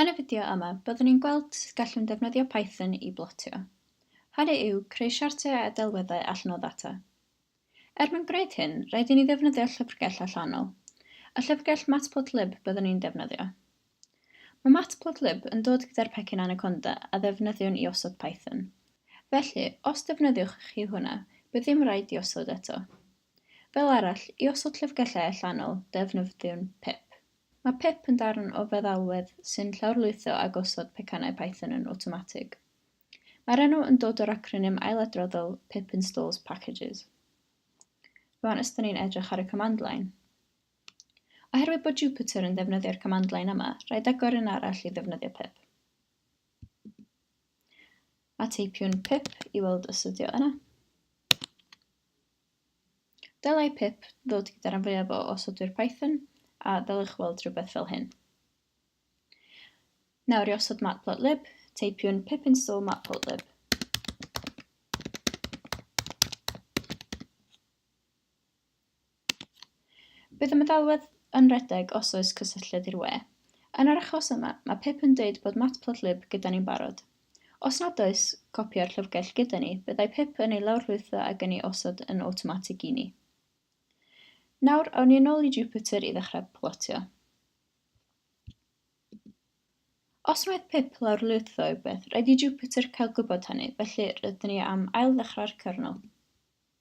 Yn y fideo yma, byddwn ni'n gweld sut gallwn ddefnyddio Python i blotio. Hynny yw, creu siartiau a delweddau allan o ddata. Er mwyn gwneud hyn, rhaid i ni ddefnyddio llyfrgell allanol. Y llyfrgell Matplotlib byddwn ni'n defnyddio. Mae Matplotlib yn dod gyda'r pecyn Anaconda a ddefnyddiwn i osod Python. Felly, os defnyddiwch chi hwnna, bydd ddim raid diosod eto. Fel arall, i osod llyfrgellau allanol, defnyddiwn pip. Mae pip yn darn o feddalwedd sy'n llawrlwytho a gosod pecynnau Python yn awtomatig. Mae'r enw yn dod o'r acronym ailadroddol pip installs packages. Rwan ysdyn ni'n edrych ar y command line. Oherwydd bod Jupyter yn ddefnyddio'r command-line yma, rhaid agor un arall i ddefnyddio pip. A teipiwn pip i weld os ydi o yna. Dylai pip ddod gyda'r rhan fwyaf o osodwyr Python, a ddylech weld rhywbeth fel hyn. Nawr i osod matplotlib, teipiwn pip install matplotlib. Bydd y meddalwedd yn rhedeg os oes cysylltiad i'r we. Yn yr achos yma, mae Pip yn deud bod Matplotlib gyda ni'n barod. Os nad oes copi o'r llyfrgell gyda ni, byddai Pip yn ei lawrlwytho ag yn ei osod yn awtomatig i ni. Nawr, awn ni yn ôl i Jupyter i ddechrau plotio. Os wnaeth Pip lawrlwytho rhywbeth, rhaid i Jupyter cael gwybod hynny, felly rydyn ni am ail-ddechrau'r cyrnol.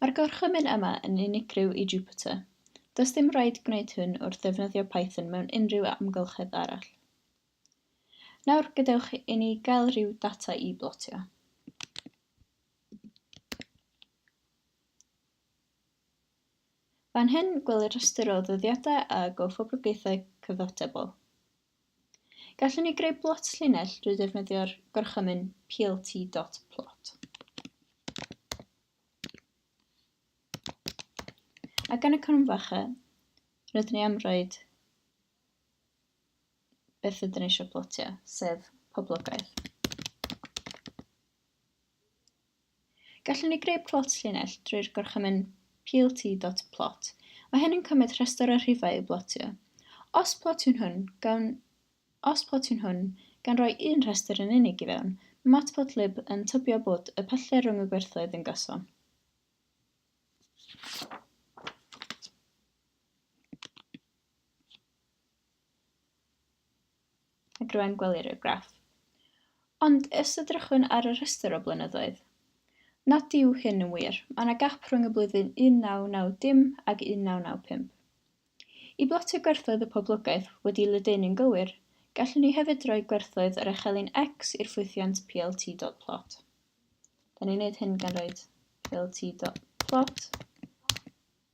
Mae'r gorchymyn yma yn unigryw i Jupyter. Does dim raid gwneud hyn wrth ddefnyddio Python mewn unrhyw amgylchedd arall. Nawr gadewch i ni gael rhyw data i blotio. Fan hyn, gwelir rhestr o ddyddiadau a gofoblogaethau cyfatebol. Gallwn ni greu blot llinell drwy ddefnyddio'r gorchymyn plt.plot. Ac yn y cromfacha, rydyn ni am roed beth ydyn ni eisiau plotio, sef poblogaeth. Gallwn ni greu plot llinell drwy'r gorchymyn plt.plot. Mae hyn yn cymryd rhestr o'r rhifau i'w blotio. Os plotiwn hwn gan, os plotiwn hwn gan roi un rhestr yn unig i fewn, mae matplotlib yn tybio bod y pyllau rhwng y gwerthoedd yn gyson. ac rwy'n gwelir y graff. Ond os edrychwn ar y rhestr o blynyddoedd, nad yw hyn yn wir, mae yna gap rhwng y blwyddyn 1990 ac 1995. I blotio gwerthoedd y poblogaeth wedi ledaenu'n gywir, gallwn ni hefyd roi gwerthoedd yr echelin X i'r ffwythiant plt.plot. Da ni'n gwneud hyn gan roed plt.plot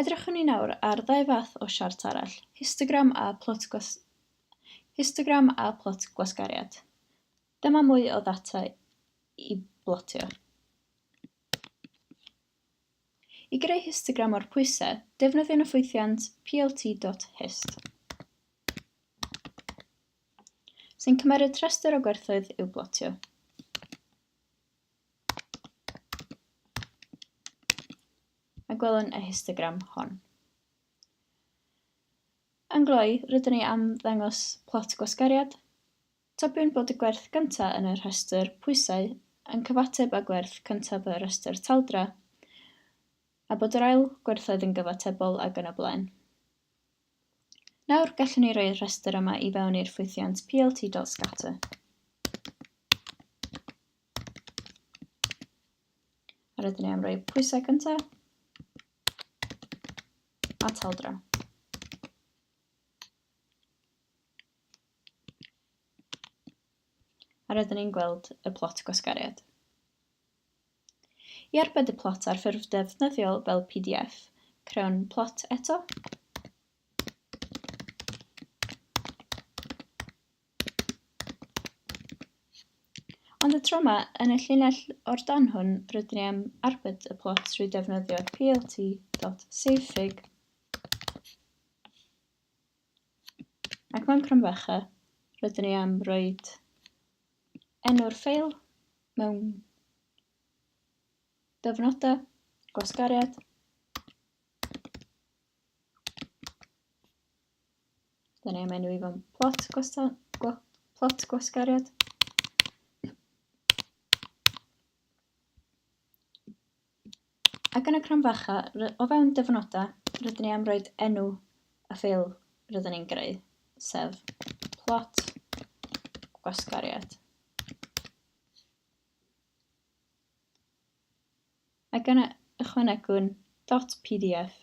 Edrychwn ni nawr ar ddau fath o siart arall, histogram a plot gwas... histogram a plot gwasgariad. Dyma mwy o ddata i blotio. I greu histogram o'r pwysau, defnyddiwn y ffwythiant plt.hist, sy'n cymeryd rhestr o gwerthoedd i'w blotio. a gwelwn y histogram hon. Yn gloi, rydyn ni am ddangos plot gwasgariad. Tybiwn bod y gwerth gyntaf yn y rhestr pwysau yn cyfateb â gwerth cyntaf y rhestr taldra, a bod yr ail gwerthoedd yn gyfatebol ag yn y blaen. Nawr, gallwn ni roi'r rhestr yma i fewn i'r ffwythiant plt.scatter. A rydyn ni am roi pwysau cyntaf. A taldra. A rydyn ni'n gweld y plot gwasgariad. I arbed y plot ar ffurf defnyddiol fel PDF, crewn plot eto. Ond y tro yma, yn y llinell o'r dan hwn, rydyn ni am arbed y plot trwy ddefnyddio plt.savefig ac mewn cromfacha rydyn ni am roi enw'r ffeil mewn dyfnodau gwasgariad Dyna mae'n nhw i fo'n plot, gwastan, gwa, plot gwasgariad. Ac yn y cram facha, o fewn dyfnodau, rydyn ni am roed enw y ffeil rydyn ni'n greu, sef plot gwasgariad. Ac yna ychwanegwn .pdf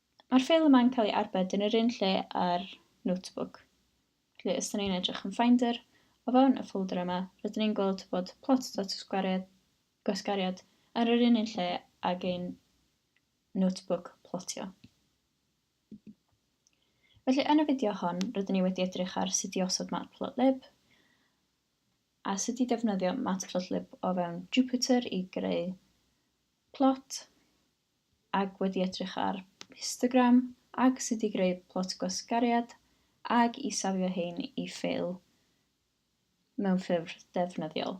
Mae'r ffeil yma'n cael ei arbed yn yr un lle â'r notebook. Felly, os ydyn ni'n edrych yn Finder, o fewn y ffolder yma, rydyn ni'n gweld bod plot.gwasgariad gwasgariad ar yr un un lle ag ein notebook plotio. Felly, yn y fideo hon, rydyn ni wedi edrych ar sut i osod matplotlib a sut i defnyddio matplotlib o fewn Jupyter i greu plot ac wedi edrych ar histogram ac sut i greu plot gwasgariad ac i safio rhein i ffeil mewn ffurf defnyddiol.